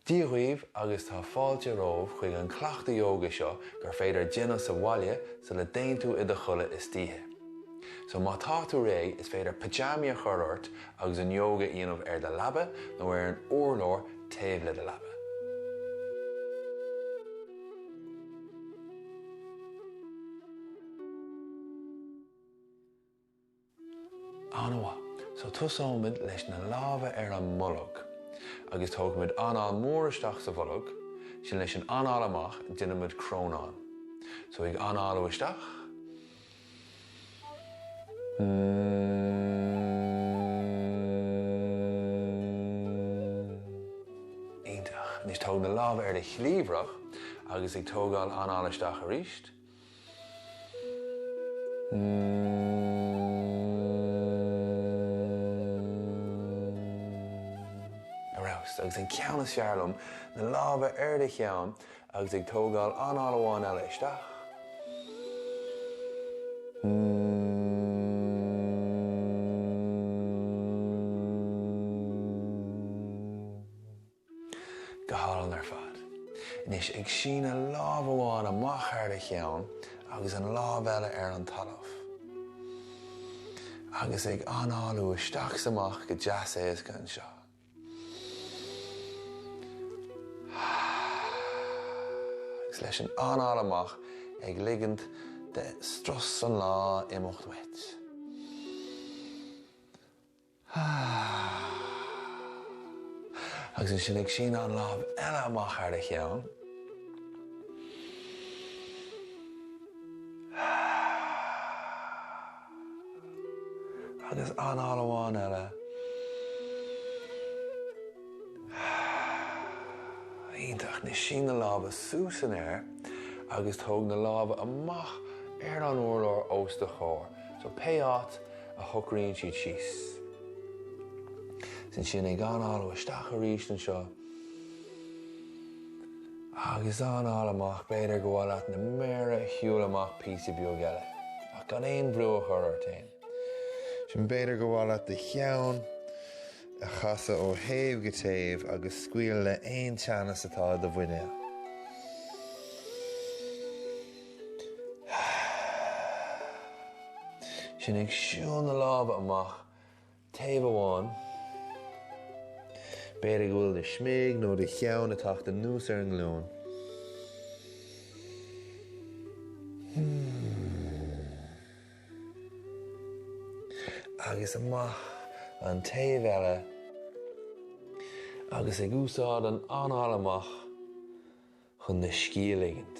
Dia dhaoibh agus tá fáilte romhaibh chuig an cleachtadh yoga seo gur féidir a dhéanamh sa bhaile sula dtéann tú i do chodladh istoíche. So má tá tú réidh is féidir pitseámaí a chur ort agus an yoga a dhéanamh ar do leaba nó ar an urlár taobh le do leaba. An-mhaith. So tosóimid leis na lámha ar an mbolg agus tógaimid anáil mhór isteach sa bholg, sin leis an anáil amach déanaimid crónán. So ag análú isteach. Iontach. Anois tóg na lámha ar do chliabhrach agus ag tógáil anáil isteach arís. Arís. Agus an ceann is fearr liom, na lámha ar do cheann Agus ag tógáil anáil amháin eile isteach. Mmm. Go hálainn ar fad. Anois ag síneadh lámh amháin amach thar do cheann agus an lámh eile ar an talamh. Agus ag análú isteach 's amach go deas éasca anseo. Agus leis an anáil amach ag ligint do strus an lae imeacht uait. Agus ansin ag síneadh an lámh eile amach thar do cheann. Agus anáil amháin eile. Iontach. Anois sín na lámha suas san aer agus tóg na lámha amach ar an urlár os do chomhair, so pé áit a shocraíonn siad síos. Is ansin ag análú isteach arís anseo. Agus anáil amach b'fhéidir gur mhaith leat na méara a shiúl amach píosa beag eile, ach gan aon bhrú a chur ort fhéin. Ansin b'fhéidir gur mhaith leat do cheann a chasadh ó thaobh go taobh agus scaoileadh le aon teannas atá i do mhuinéal. Ansin ag siúl na lámha amach taobh amháin. B'fhéidir go bhfuil do shmig nó do cheann ag teacht anuas ar an nglúin. Agus amach an taobh eile agus ag úsáid an anáil amach chun do scíth a ligint.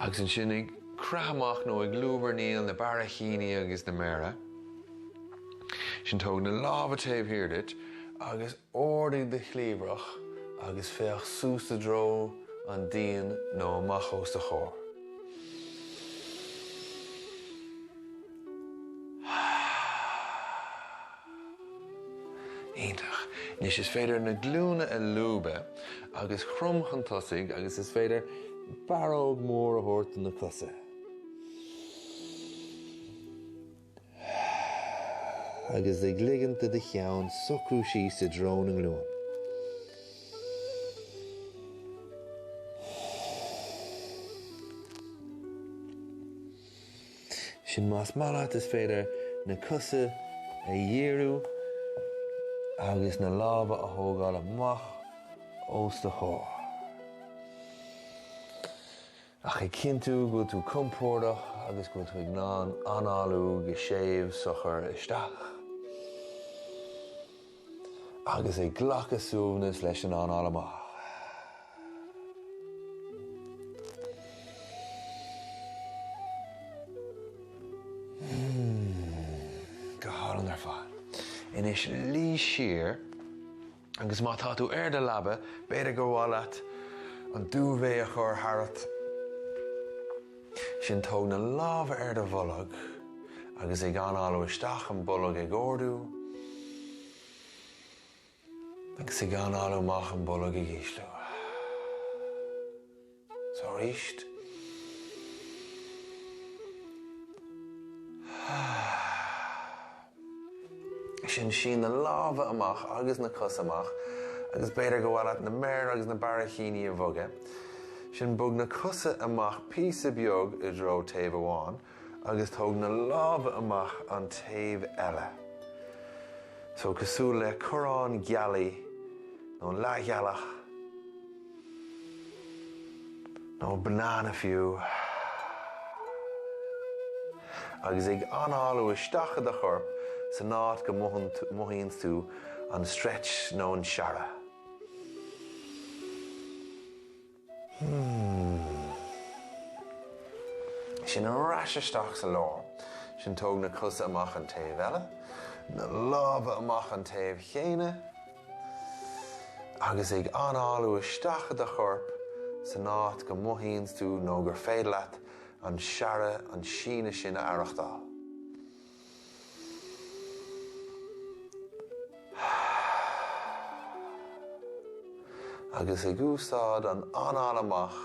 Agus ansin ag creathadh amach nó ag lúbarnaíl na barraicíní agus na méara. Ansin tóg na lámha taobh thiar duit agus ardaigh do chliabhrach agus féach suas i dtreo an díon nó amach os do chomhair. Iontach. Anois is féidir na glúine a lúbadh agus cromadh chun tosaigh agus is féidir barróg mór a thabhairt do na cosa. Agus ag ligint do do cheann socrú síos i dtreo na nglúin. Ansin más maith leat is féidir na cosa a dhíriú agus na lámha a thógáil amach os do chomhair. Ach ag cinntiú go bhfuil tú compordach agus go bhfuil tú ag análú go séimh socair isteach. agus ag glacadh suaimhnis leis an anáil amach. Mmm, go hálainn ar fad. Anois luigh siar agus má tá tú ar do leaba b'fhéidir gur mhaith leat an duvet a chur tharat. Ansin tóg na lámha ar do bholg agus ag análú isteach an bolg ag ardú agus ag análú amach an bolg ag íslú. So arís Ansin sín na lámha amach agus na cosa amach agus b'fhéidir gur mhaith leat na méara agus na barraicíní a bhogadh. Ansin bog na cosa amach píosa beag i dtreo taobh amháin agus tóg na lámha amach an taobh eile. So cosúil le corrán gealaí nó leathghealach. Nó banana fiú. Agus ag análú isteach i do chorp san áit go mothaíonns tú an stretch nó an searradh. Mmm. Sin ar ais isteach sa lár. Sin tóg na cosa amach an taobh eile, na lámha amach an taobh chéanna. agus ag análú isteach i do chorp san áit go mothaíonns tú nó gur féidir leat an searradh, an síneadh sin a aireachtáil. agus ag úsáid an anáil amach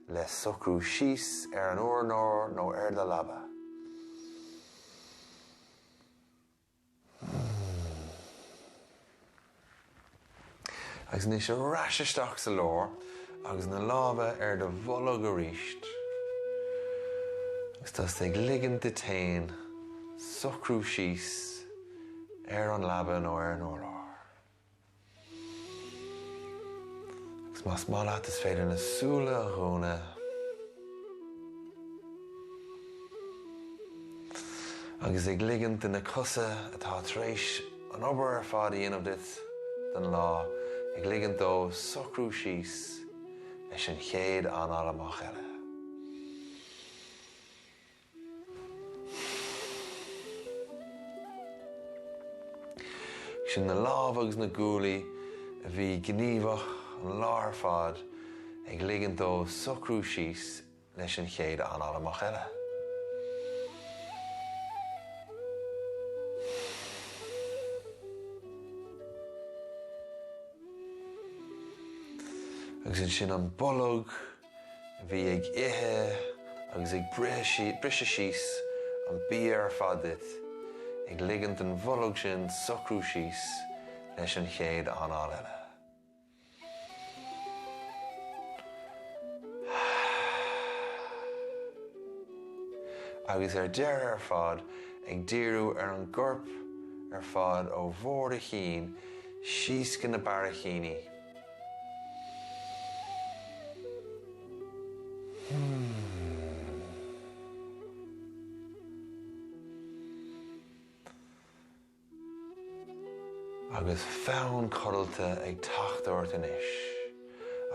le socrú síos ar an urlár nó ar do leaba. Agus anois ar ais isteach sa lár agus na lámha ar do bholg aríst. Agus tá tú ag ligint duit féin socrú síos ar an leaba nó ar an urlár. Agus más maith leat is féidir na súile a dhúnadh. Agus ag ligint do na cosa atá tar éis an obair ar fad a dhéanamh duit don lá, ag ligint dóibh socrú síos leis an chéad anáil amach eile. Sin na lámha agus na guaillí a bhí gníomhach an lá ar fad ag ligint dóibh socrú síos leis an chéad anáil amach eile. Agus ansin an bolg. a bhí ag ithe agus ag briseadh síos an bia ar fad duit, ag ligint don bholg sin socrú síos leis an chéad anáil eile. Agus ar deireadh ar fad, ag díriú ar an gcorp ar fad ó bharr do chinn síos go na barraicíní. Agus fonn codlata ag teacht ort anois,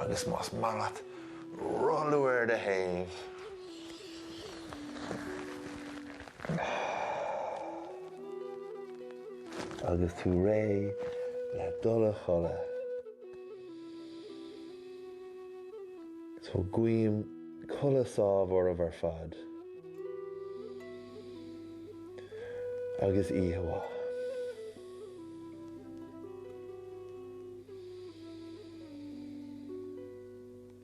agus más maith leat rolladh ar do thaobh, Agus tú réidh le dul a chodladh. So guím codladh sámh oraibh ar fad. Agus oíche mhaith.